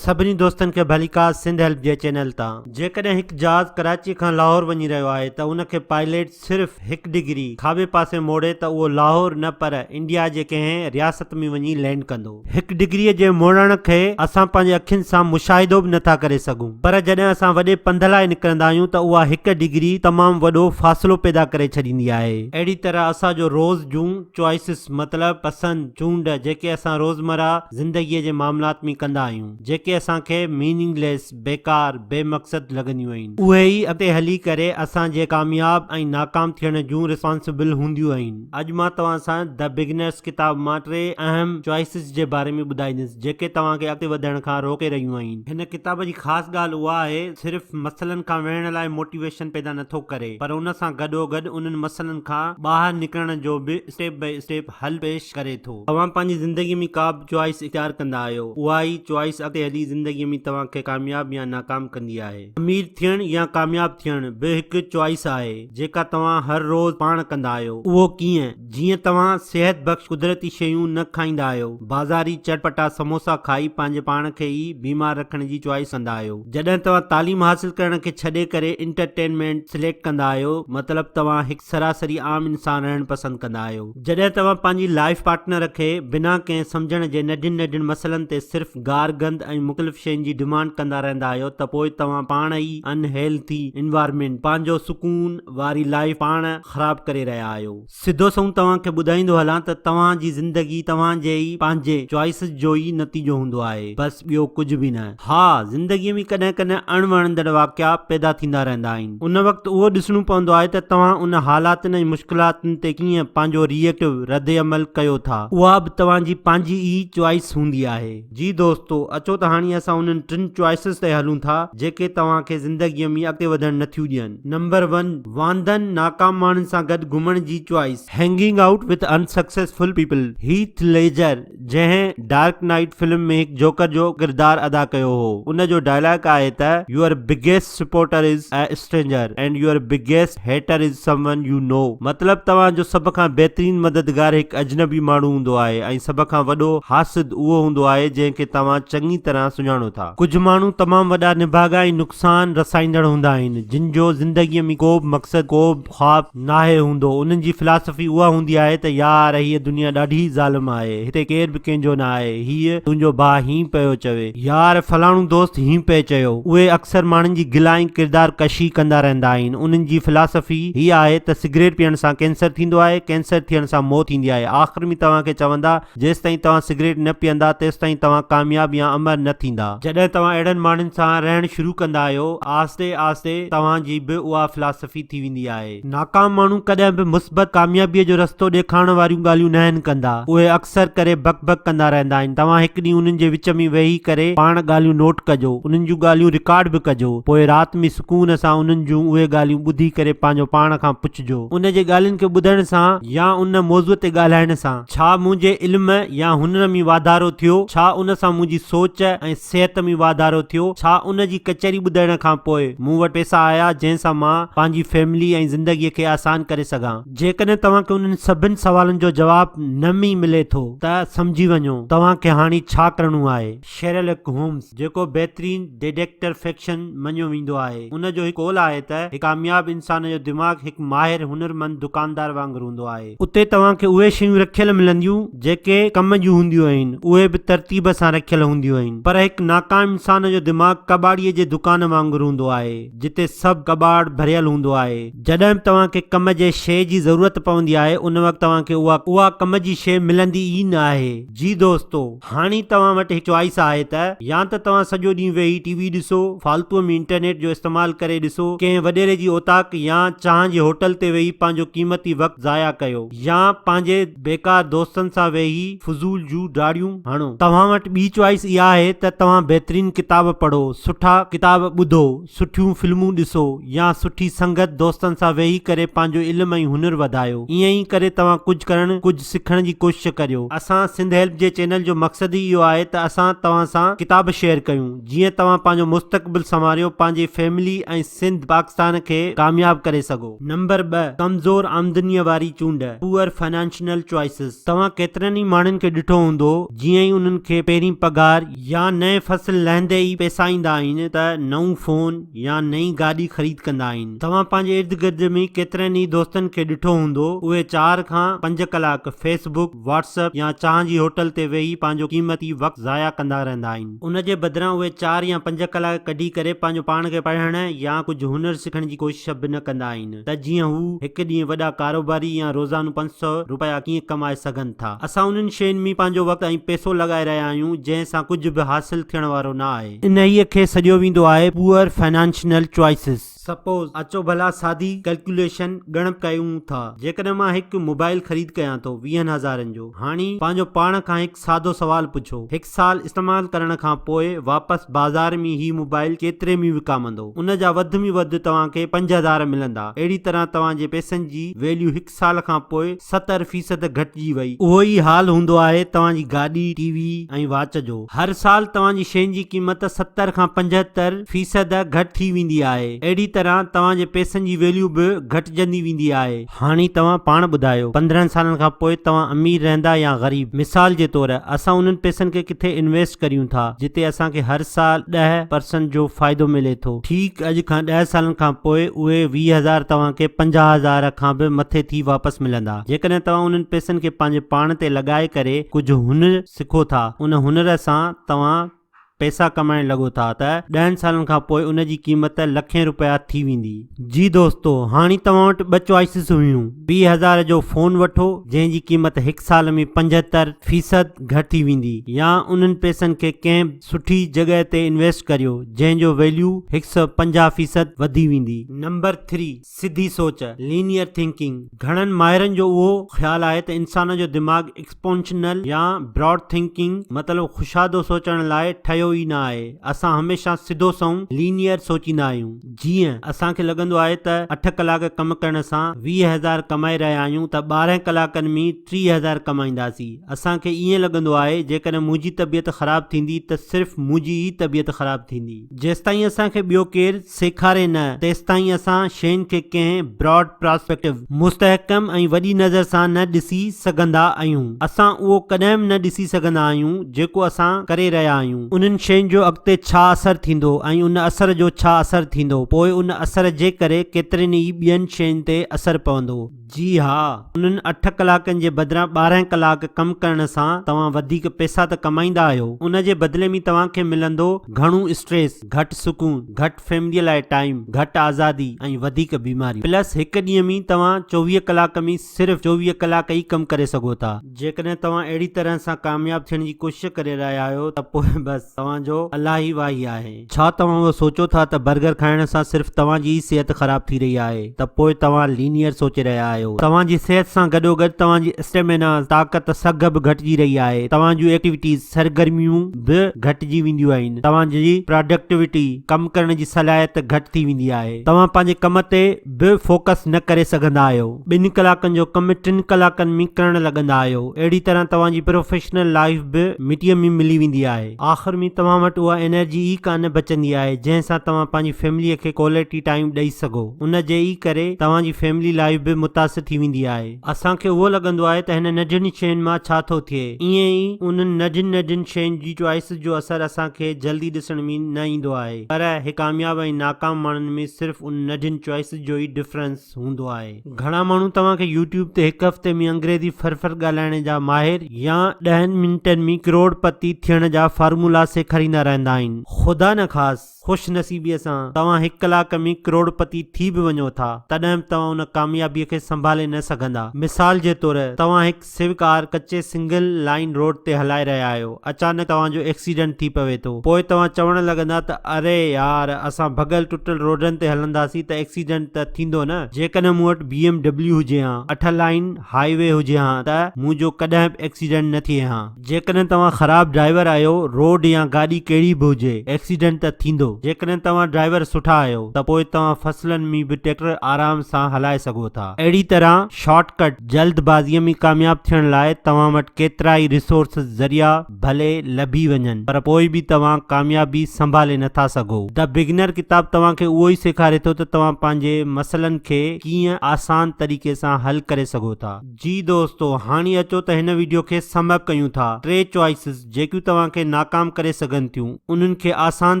سڀني دوستن کي ڀليڪار سنڌ هيلپ جي چينل تان. جيڪڏهن هڪ جهاز ڪراچي کان لاهور وڃي رهيو آهي ته ان کي پائليٽ صرف هڪ ڊگري کاٻي پاسي موڙي ته اهو لاهور نه پر انڊيا جي ڪنهن رياست ۾ وڃي لينڊ ڪندو. هڪ ڊگري جي موڙڻ کي اسان پنهنجي اکين سان مشاهدو به نٿا ڪري سگهون پر جڏهن اسان وڏي پنڌ لاء نڪرندا آهيون ته اها هڪ ڊگري تمام وڏو فاصلو پيدا ڪري ڇڏيندي آهي. اهڙي طرح اسان جو روز جون چوائسز مطلب پسند چونڊ جيڪي اسان روزمره. زندگيء جي معاملات ۾ ڪندا آهيون، جيڪي اسان کي ميننگ ليس، بيڪار، بي مقصد، لڳنديون آهن. اهي ئي اڳتي هلي ڪري اسان جي ڪامياب ۽ ناڪام ٿيڻ جون ريسپانسبل هونديون آهن. اڄ مان توهان سان The Beginners ڪتاب مان ٽي اهم Choices جي باري ۾ ٻڌائيندس، جيڪي توهان کي اڳتي وڌڻ کان روڪي رهيون آهن. هن ڪتاب جي خاص ڳالهه اها آهي ته صرف مسئلن کان وڙهڻ لاء موٽيويشن پيدا نٿو ڪري، پر ان سان گڏوگڏ انهن مسئلن کان ٻاهر نڪرڻ جو به اسٽيپ بائي اسٽيپ، حل پيش ڪري ٿو. توهان پنهنجي زندگي ۾ ڪا به چوائس اختيار ڪندا آهيو، اها ئي چوائس اڳتي هلي زندگي ۾ توهان کي ڪامياب يا ناڪام ڪندي آهي. امير ٿيڻ يا ڪامياب ٿيڻ به هڪ چوائس آهي، جيڪا توهان هر روز پاڻ ڪندا آهيو. اهو ڪيئن؟ جيئن توهان صحت بخش قدرتي شيون نه کائيندا آهيو، بازاري چٽپٽا سموسا کائي پنهنجي پاڻ کي ئي بيمار رکڻ جي چوائس ڪندا آهيو. جڏهن توهان تعليم حاصل ڪرڻ کي ڇڏي ڪري انٽرٽينمينٽ سليڪٽ ڪندا آهيو، مطلب توهان هڪ. سراسري عام انسان رهڻ پسند ڪندا آهيو. جڏهن توهان پنهنجي لائيف پارٽنر کي بنا ڪنهن سمجهڻ جي ننڍين ننڍين مسئلن تي صرف گار گند ۽ مخلف شين جي ڊمانڊ ڪندا رهندا آهيو ته پوء توهان پاڻ ئي ان هيلٿي انوائرمينٽ، پنهنجو سڪون، واري لائيف پاڻ خراب ڪري رهيا آهيو. سڌو سنئون توهان کي ٻڌائيندو هلان ته توهان جي زندگي توهان جي ئي پنهنجي چوائسز جو ئي نتيجو هوندو آهي بس ٻيو ڪجهه به نه. ها، زندگيء ۾ ڪڏهن ڪڏهن اڻ وڻندڙ واقعا پيدا ٿيندا رهندا آهن. ان وقت اهو ڏسڻو پوندو آهي ته توهان ان حالاتن ۽ مشڪلاتن تي ڪيئن پنهنجو ري ايڪٽو، رد عمل، ڪيو ٿا. اها به توهان جي پنهنجي ئي چوائيس هوندي آهي. جي دوستو، اچو ته هاڻي اسان انهن ٽن چوائيسز تي هلون ٿا، جيڪي توهان کي زندگيء ۾ اڳتي وڌڻ نه ٿيون ڏين. نمبر ون، واندن، ناڪام ماڻهن سان گڏ گهمڻ جي choice. Hanging out with unsuccessful people، Heath Ledger. جنهن ڊارڪ نائيٽ فلم ۾ هڪ جوڪر جو ڪردار ادا ڪيو هو ان جو ڊائلاگ آهي ته your biggest supporter is a stranger and your biggest hater is someone you know مطلب توهان جو سڀ کان بهترين مددگار هڪ اجنبي ماڻهو هوندو آهي ۽ سڀ کان وڏو حاسد اهو هوندو آهي جنهن کي توهان چڱي طرح سڃاڻو ٿا. ڪجهه ماڻهو تمام وڏا نڀاڳا ۽ نقصان رسائيندڙ هوندا آهن جن جو زندگي ۾ ڪوبه مقصد ڪوبه. خواب ناهي هوندو، انهن جي فلاسفي اها هوندي آهي ته يار هيء دنيا ڏاڍي ظالم آهي، هتي ڪير به ڪنهن جو نه آهي، هيء تنهنجو ڀاء هينئن پيو چوي، يار فلاڻو دوست هينئن پئي چيو، اهي اڪثر ماڻهن جي گلا ۽ ڪردار ڪشي ڪندا رهندا آهن، انهن جي فلاسفي هيء آهي ته سگريٽ پيئڻ سان ڪينسر ٿيندو آهي، ڪينسر ٿيڻ سان موت ايندي آهي، آخر ۾ توهان کي چوندا، جيستائين توهان سگريٽ نه پيئندا تيستائين توهان ڪامياب يا امر نه ٿيندا. جڏهن توهان اهڙن ماڻهن سان رهڻ شروع ڪندا آهيو، آهستي آهستي توهان جي به اها فلاسفي ٿي ويندي آهي. ناڪام ماڻهو ڪڏهن به مثبت ڪاميابيء جو رستو ڏيکارڻ واريون ڳالهيون ناهن ڪندا. اهي اڪثر ڪري بڪ بڪ ڪندا رهندا آهن. توهان هڪ ڏينهن انهن جي وچ ۾ ويهي ڪري پاڻ ڳالهيون نوٽ ڪجو. انهن جون ڳالهيون رڪارڊ به ڪجو. پوء رات ۾ سڪون سان انهن جون اهي ڳالهيون ٻڌي ڪري پنهنجو پاڻ کان پڇجو. ان جي ڳالهين کي ٻڌڻ سان يا ان موضوع تي ڳالهائڻ سان. ڇا منهنجي علم يا هنر ۾ واڌارو ٿيو؟ ڇا ان سان منهنجي سوچ ۽ صحت ۾ واڌارو ٿيو؟ ڇا ان جي ڪچهري ٻڌڻ کان پوء مون وٽ پئسا آيا جنهن سان مان پنهنجي فيملي ۽ زندگي کي آسان ڪري سگهان؟ جيڪڏهن توهان کي انهن سڀن سوالن جو جواب نم ئي ملي ٿو ته سمجهي وڃو توهان کي هاڻي ڇا ڪرڻو آهي. شيرلڪ هومز، جيڪو بهترين ڊيڊڪٽر فڪشن مڃيو ويندو آهي، ان جو هڪ قول آهي ته هڪ ڪامياب انسان جو دماغ هڪ ماهر هنرمند دڪاندار وانگر هوندو آهي. اتي توهان کي اهي شيون رکيل ملنديون جيڪي ڪم جون هونديون آهن، اهي به ترتيب سان رکيل هونديون آهن. پر هڪ ناڪام انسان جو دماغ ڪٻاڙيء جي دڪان وانگر هوندو آهي، جتي سڀ ڪٻاڙ ڀريل هوندو آهي. جڏهن به توهان کي ڪم جي شيء جي ضرورت پوندي آهي، ان وقت توهان کي اها ڪم جي شيء ملندي ئي نه آهي. جي دوستو! هاڻي توهان وٽ هي چوائس آهي ته يا ته توهان سڄو ڏينهن ويهي ٽي وي ڏسو، فالتوء ۾ انٽرنيٽ جو استعمال ڪري ڏسو، ڪنهن وڏيري جي اوطاق يا چانهن جي هوٽل تي ويهي پنهنجو قيمتي وقت ضايع ڪيو يا پنهنجي بيڪار دوستن سان ويهي فضول جون ڊاڙيون هڻو. توهان وٽ ٻي چوائس اها آهي ته توهان بهترين ڪتاب پڙهو، سٺا ڪتاب ٻڌو، سٺيون فلمون ڏسو يا سٺي سنگت دوستن سان ويهي ڪري پنهنجو علم ۽ هنر وڌايو ائين ئي ڪري توهان ڪجهه ڪرڻ ڪجهه سکڻ جي ڪوشش ڪريو. اسان سنڌ هيلپ جي چينل جو مقصد ئي اهو آهي ته اسان توهان سان ڪتاب شيئر ڪيون جيئن توهان پنهنجو مستقبل سنواريو پنهنجي فيملي ۽ سنڌ پاڪستان کي ڪامياب ڪري سگهو. نمبر ٻه، ڪمزور آمدنيء واري چونڊ، Poor Financial Choices، توهان ڪيترن ئي ماڻهن کي ڏٺو هوندو جيئن ئي انهن کي پهرين پگهار، يا نئين فصل لهندي ئي پئسا ايندا آهن ته نئون فون يا نئين گاڏي خريد ڪندا آهن. توهان پنهنجي ارد گرد ۾ ڪيترن ئي دوستن کي ڏٺو هوندو اهي چار کان پنج ڪلاڪ فيس بڪ، واٽس اپ يا چانهه جي هوٽل تي ويهي پنهنجو قيمتي وقت ضايع ڪندا رهندا آهن. ان جي بدران اهي چار يا پنج ڪلاڪ ڪڍي ڪري پنهنجو پاڻ کي پڙهڻ يا ڪجهه هنر سکڻ جي ڪوشش به نه ڪندا آهن. ته جيئن هو هڪ ڏينهن وڏا ڪاروباري يا روزانو پنج سؤ روپيا ڪيئن ڪمائي سگهن ٿا. اسان انهن شين ۾ پنهنجو وقت ۽ پئسو لڳائي رهيا آهيون جنهن سان ڪجهه به حاصل ٿيڻ وارو نه آهي. انهيء کي سڏيو ويندو آهي Poor Financial Choices. سپوز اچو ڀلا سادي ڪلڪيوليشن ڳڻپ ڪيون ٿا. جيڪڏهن مان هڪ موبائل خريد ڪيان ٿو ويهن هزارن جو هاڻي پنهنجو پاڻ کان هڪ سادو سوال پڇو هڪ سال استعمال ڪرڻ کان پوء واپس بازار ۾ هي موبائل ڪيتري ۾ وڪامندو ان جا وڌ ۾ وڌ توهان کي پنج هزار ملندا اهڙي طرح توهان جي پئسن جي ويليو هڪ سال کان پوء ستر فيصد گهٽجي وئي. اهو ئي حال هوندو آهي توهان جي گاڏي، ٽي وي ۽ واچ جو هر سال توهان جي شين جي قيمت ستر کان پنجهتر فيصد گهٽ ٿي ويندي آهي اهڙي طرح توهان جي پئسن جي ويليو به گهٽجندي ويندي آهي. هاڻي توهان پاڻ ٻڌايو پندرهن سالن کان پوء توهان امير رهندا يا غريب؟ مثال جي طور اسان انهن پئسن کي ڪٿي انويسٽ ڪريون ٿا جتي اسان کي هر سال ڏهه پرسنٽ جو فائدو ملي ٿو. ٺيڪ اڄ کان ڏهه سالن کان پوء اهي ويهه هزار توهان کي پنجاهه هزار کان به مٿي ٿي واپس ملندا جيڪڏهن توهان انهن پئسن کي پنهنجي پاڻ تي لڳائي ڪري ڪجهه هنر سکو ٿا ان هنر سان توهان پئسا ڪمائڻ لڳو ٿا ته ڏهن سالن کان پوء ان جي قيمت لکين رپيا ٿي ويندي. جي دوستو هاڻي توهان وٽ ٻه چوائسز هيون، ويهه هزار جو فون وٺو جنهن جي قيمت هڪ سال ۾ پنجهتر فيصد گهٽ ٿي ويندي يا انهن پئسن کي ڪنهن سٺي جڳهه تي انويسٽ ڪريو جنهن جو ويليو هڪ سئو پنجاهه فيصد وڌي ويندي. نمبر ٿري سڌي سوچ، Linear Thinking، گهڻن ماهرن جو اهو خيال آهي ته انسان جو دماغ Expontional يا Broad Thinking مطلب خشادو سوچڻ لاء ٺهيو ئي نه آهي. اسان هميشه سڌو سنئون، Linear، سوچيندا آهيون. جيئن، اسان کي لڳندو آهي ته اٺ ڪلاڪ ڪم ڪرڻ سان ويهه هزار ڪمائي رهيا آهيون ته ٻارهن ڪلاڪن ۾ ٽيهه هزار ڪمائينداسين. اسان کي ائين لڳندو آهي جيڪڏهن منهنجي طبيعت خراب ٿيندي ته صرف منهنجي ئي طبيعت خراب ٿيندي. جيستائين اسان کي ٻيو ڪير سيکاري نه، تيستائين اسان شين کي ڪنهن Broad Prospective، مستحڪم ۽ وڏي نظر سان نه ڏسي سگهندا اهيون. اسان اهو ڪڏهن به نه ڏسي سگهندا آهيون جيڪو اسان ڪري رهيا آهيون. انهن شين جو اڳتي ڇا اثر ٿيندو ۽ ان اثر جو ڇا اثر ٿيندو، پوء ان اثر جي ڪري ڪيترين ئي ٻين شين تي اثر پوندو. جي ها، انهن اٺ ڪلاڪن جي بدران ٻارهن ڪلاڪ ڪم ڪرڻ سان توهان وڌيڪ پئسا ته ڪمائيندا آهيو، ان جي بدلي ۾ توهان کي ملندو گهڻو اسٽريس، گهٽ سڪون، گهٽ فيمليء لاء ٽائيم، گهٽ آزادي ۽ وڌيڪ بيماريون. پلس هڪ ڏينهن ۾ توهان چوويهه ڪلاڪ ۾ صرف چوويهه ڪلاڪ ئي ڪم ڪري سگهو ٿا. جيڪڏهن توهان اهڙي طرح سان ڪامياب ٿيڻ جي ڪوشش ڪري رهيا آهيو ته پوء بس توهان جو الله ئي واهي آهي. ڇا توهان اهو سوچيو ٿا ته برگر کائڻ سان صرف توهان جي ئي صحت خراب ٿي رهي آهي ته پوء توهان لينيئر سوچي رهيا آهيو. توهان جي صحت سان گڏوگڏ توهان جي اسٽيمينا، طاقت، سگهه به گهٽجي رهي آهي. توهان جون ايڪٽيويٽيز، سرگرميون، به گهٽجي وينديون آهن. توهان جي پراڊڪٽيوٽي، ڪم ڪرڻ جي صلاحيت، گهٽ ٿي ويندي آهي. توهان پنهنجي ڪم تي به فوڪس نه ڪري سگهندا آهيو. ٻن ڪلاڪن جو ڪم ٽن ڪلاڪن ۾ ڪرڻ لڳندا آهيو. اهڙي طرح توهان جي پروفيشنل لائيف به مٽيء ۾ ملي ويندي آهي. آخر ۾ توهان وٽ اها انرجي ئي ڪانه بچندي آهي جنهن سان توهان پنهنجي فيمليء کي ڪوالٽي ٽائيم ڏئي سگهو. ان جي ئي ڪري توهان جي فيملي لائيف به متاثر ٿي ويندي آهي. اسان کي اهو لڳندو آهي ته هن ننڍين شين مان ڇا ٿو ٿئي. ائين ئي انهن ننڍين ننڍين شين جي چوائيسز جو اثر اسان کي جلدي ڏسڻ ۾ نه ايندو آهي. پر هي ڪامياب ۽ ناڪام ماڻهن ۾ صرف ان نڍين چوائسز جو ئي ڊفرنس هوندو آهي. گهڻا ماڻهو توهان کي يوٽيوب تي هڪ هفتي ۾ انگريزي ڦر ڦر ڳالهائڻ جا ماهر يا ڏهن منٽن ۾ ڪروڙ پتي ٿيڻ جا فارمولا سيکاريندا رهندا آهن. خدا نه خاص خوش نصيبيء سان توهان هڪ ڪلاڪ ۾ ڪروڙ پتي ٿي به وڃو ٿا تڏهن به توهان ان ڪاميابيء کي سنڀالي نه سگهندا. مثال جي طور توهان هڪ سوئي ڪار ڪچي سنگل لائين روڊ تي هلائي رهيا آهيو اچانڪ توهان جو ايڪسيڊنٽ ٿي پوي ٿو پوء توهان چوڻ لڳندا ته اري يار اسان ڀڳل ٽٽل روڊن تي هلنداسين ته ايڪسيڊنٽ ته ٿيندو نه. جيڪڏهن مون وٽ بي ايم ڊبليو هجي هان اٺ لائين هاء وي هجي هان ته مون جو ڪڏهن به ايڪسيڊنٽ نه ٿئي هان. جيڪڏهن توهان خراب ڊرائيور آهيو، روڊ يا گاڏي ڪهڙي به هجي، ايڪسيڊنٽ ته ٿيندو. جيڪڏهن توهان ڊرائيور سٺا آهيو ته پوء توهان فصلن ۾ به ٽريڪٽر آرام سان هلائي سگهو ٿا. اهڙي طرح شارٽ ڪٽ، جلد بازيء ۾ ڪامياب ٿيڻ لاء توهان وٽ ڪيترائي ريسورسز، ذريعا، ڀلي لڀي وڃن پر پوء به توهان ڪاميابي سنڀالي نه ٿا سگهو. The Beginner ڪتاب توهان کي اهو ئي سيکاري ٿو ته توهان پنهنجي مسئلن کي ڪيئن آسان طريقي سان حل ڪري سگهو ٿا. جي دوستو هاڻي اچو ته هن ويڊيو کي سم اپ ڪيون ٿا ٽي چوائسز جيڪيون توهان کي ناڪام ڪري سگهن ٿيون انهن کي آسان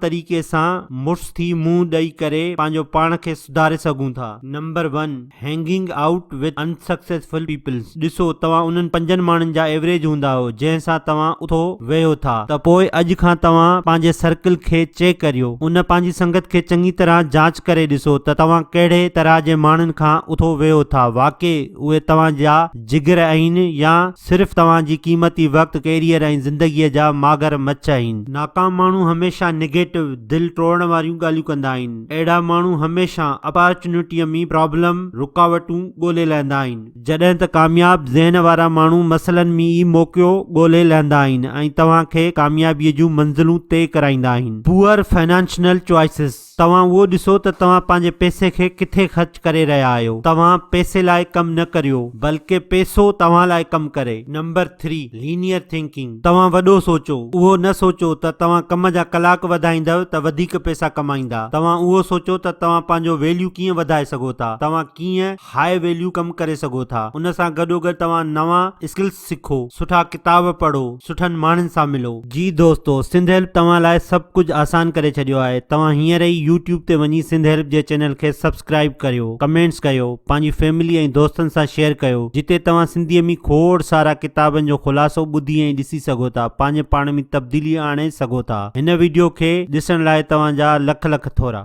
طريقي سان مڙس ٿي منهن ڏئي ڪري پنهنجو پاڻ کي سڌاري سگهون ٿا. Number one hanging out with unsuccessful peoples ڏسو توهان انهن پنجن ماڻهن جا ايوريج هوندا آهيو جنهن سان توهان اٿو ويهو ٿا ته پوء اڄ کان توهان پنهنجي سرڪل کي چيڪ ڪريو ان پنهنجي سنگت کي چڱي طرح جانچ ڪري ڏسو ته توهان ڪهڙي طرح جي ماڻهن کان اٿو ويهو ٿا واقعي اهي توهان جا جگر اهين يا صرف توهان جي قيمتي وقت، ڪيريئر ۽ زندگيء جا ماگر مڇ اهين. ناڪام ماڻهو هميشه نيگيٽو، دل ٽوڙڻ واريون ڳالهيون ڪندا آهن. اهڙا ماڻهو هميشه اپارچونٽيء ۾ پرابلم، رڪاوٽون، ڳولي لهندا آهن. جڏهن ته ڪامياب ذهن وارا ماڻهو مسئلن ۾ ئي موقعو ڳولي لهندا آهن ۽ توهان کي ڪاميابيء جون منزلون طئي ڪرائيندا آهن. Poor Financial Choices. توهان اهو ڏسو ته توهان پنهنجي پئسي کي ڪٿي خرچ ڪري رهيا آهيو. توهان پئسي لاء ڪم نه ڪريو بلڪه پئسو توهان لاء ڪم ڪري. نمبر ٿري، لينيئر ٿنڪنگ، توهان وڏو سوچو، اهو نه سوچو ته توهان ڪم جا ڪلاڪ وڌائيندؤ ته وڌيڪ پئسا ڪمائيندا، توهان اهو سوچو ته توهان پنهنجو ويليو ڪيئن وڌائي سگهو ٿا، توهان ڪيئن هاء ويليو ڪم ڪري سگهو ٿا، ان سان گڏوگڏ توهان نوان اسڪلز، سکو، سٺا ڪتاب پڙهو، سٺن ماڻهن سان ملو. جي دوستو سنڌ هيلپ توهان لاء سڀ ڪجهه آسان ڪري ڇڏيو آهي توهان هينئر ئي يوٽيوب تي وڃي سنڌ هيلپ جي چينل کي سبسڪرائيب ڪريو ڪمينٽس ڪيو پنهنجي فيملي ۽ دوستن سان شيئر ڪيو جتي توهان سنڌي ۾ کوڙ سارا ڪتابن جو خلاصو ٻڌي ۽ ڏسي سگهو ٿا پنهنجي پاڻ ۾ تبديلي آڻي سگهو ٿا هن ويڊيو کي ڏسڻ لاء توهان جا لک لک ٿورا.